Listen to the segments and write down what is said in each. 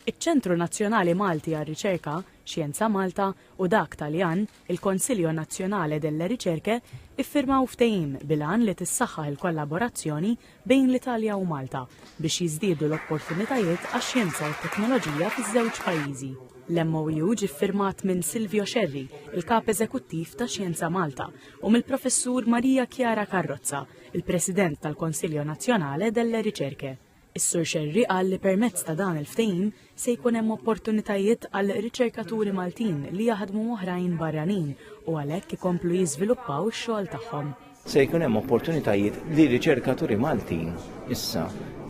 iċ-Ċentru Nazzjonali Malti għar-Riċerka, Xjenza Malta, u dak Taljan, il-Consiglio Nazionale delle Ricerche, iffirmaw ftehim bil-għan li tissaħħaħ il-kollaborazzjoni bejn l-Italja u Malta biex jiżdiedu l-opportunitajiet għax-xjenza u t-teknoloġija fiż-żewġ pajjiżi. L-MOU ġie ffirmat minn Silvio Scerri, il-Kap Eżekuttiv ta' Xjenza Malta, u mill-Professur Maria Chiara Carrozza, il-President tal-Consiglio Nazionale delle Ricerche. Is-Sur Xerri qal li permezz ta' dan il-ftehim se jkun hemm opportunitajiet għal riċerkaturi Maltin li jaħdmu oħrajn barranin u għalhekk ikomplu jiżviluppaw ix-xogħol tagħhom. Se jkun hemm opportunitajiet li riċerkaturi Maltin issa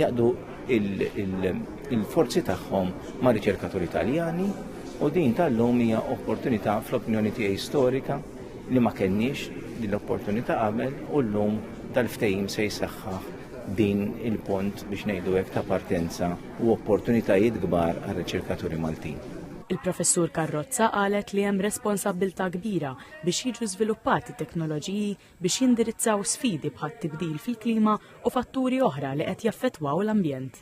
jaqdu il-forzi tagħhom ma' riċerkaturi Taljani u din tal-lum hija opportunità fl-opinjoni tiegħi storika li ma kenniex l-opportunità qabel u llum tal-ftehim se jsaħħaħ din il-pont biex ngħidu hekk ta' partenza u opportunitajiet kbar għar-riċerkaturi Maltin. Il-Professur Carrozza qalet li hemm responsabbiltà kbira biex jiġu żviluppati teknoloġiji biex jindirizzaw sfidi bħat-tibdil fil-klima u fatturi oħra li qed jaffettwaw l-ambjent.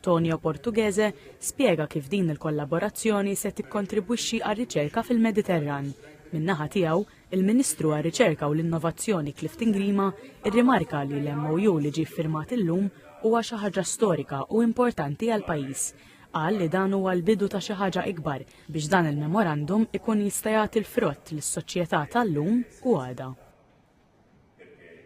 Tonio Portughese spjega kif din il-kollaborazzjoni se tikkontribwixxi għar-riċerka fil-Mediterran. Min-naħa tiegħu, il-Ministru għar-Riċerka u l-Innovazzjoni Clifton Grima rrimarka li l-MOU li ġie ffirmat illum huwa xi ħaġa storika u importanti għall-pajjiż. Qal li dan huwa l-bidu ta' xi ħaġa ikbar biex dan il-memorandum ikun jista' jagħti l-frott lis-soċjetà tal-lum u għada.